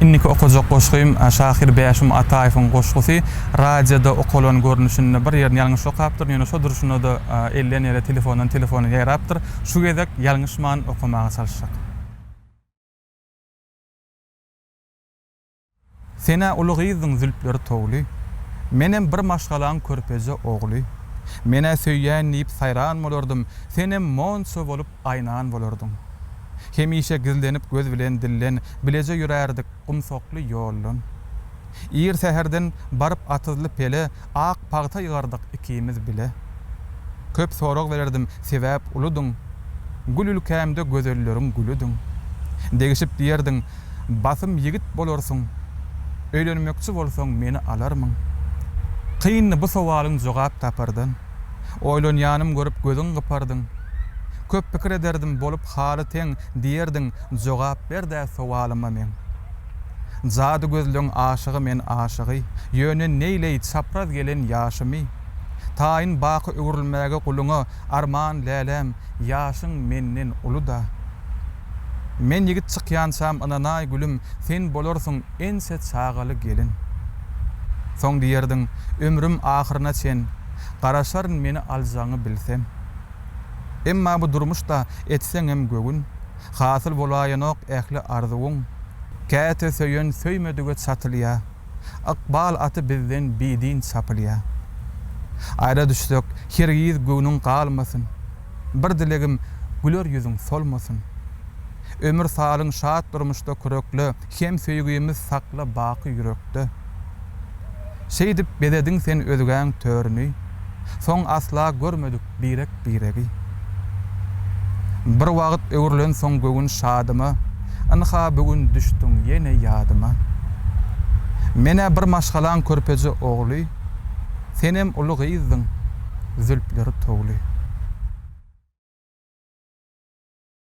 Indiki okajak goşgym, şahyr Bäşim Ataýewiň goşgusy. Radioda okalan görnüşinde bir ýerini ýalňyş okapdyryn, ýöne şo durşuna-da elden ele, telefondan telefona ýaýrapdyr. Şu gezek ýalňyşman okamaga çalyşjak. Sen-ä uly gyzdyň zülpleri towly, Menem bir maşgalaň körpeje ogly. Men-ä söýýän diýip saýran bolardym, Senem monça bolup Aýnan bolardyň. Hemişe gizlenip göz bilen dilden, Bileje ýörärdik gumsakly ýoldan. Ir säherden baryp atyzly pele, Ak pagta ýygardyk ikimiz bile. Köp sorag bererdim, sebäp uludyň, Gül ülkämde gözelleriň gülüdiň. Degişip diýerdiň, Basym ýigit bolarsyň, Öýlenmekçi bolsaň meni alarmyň? Kyndy bu sowalyň jogap tapardan. Oýlanýanym görüp gözüň gypardyň. Köp pikir ederdim bolup haly teň Diýerdiň jogap ber-dä sowalyma meň. Jady gözleň aşygy men aşygy Ýöne neýleý çapraz gelen ýaşymy. Taýyn baky öwrülmäge guluňa Arman läläm ýaşyň menden uly-da. Men ýigit çykýançam ynanaý gülüm Sen bolarsyň ençe çagaly gelin. Soň diýerdiň, Ömrüm ahyryna çen, garaşaryn meni aljagyňy bilsem. Emma bu durmuşda etseňem göwün, hasyl bolaýanok ähli arzuwyň. Käte söýen söýmedige çatylýa, ykbal aty bizden bidin çapylýa. Aýra düşsek, hergiz göwnüň galmasyn, bir dilegim, güler ýüzüň solmasyn. Ömür salyň şat durmuşda kürekle, Hem söýgimiz sakla baky ýürekde. Şeýdip bezediň sen özgäň törüni, Soň asla görmedik birek-biregi. Bir wagt öwrülensoň göwün şadyma, Ynha bu gün düşdüň ýene ýadyma. Men-ä bir maşgalaň körpeje ogly, Senem uly gyzdyň, zülpleri towly.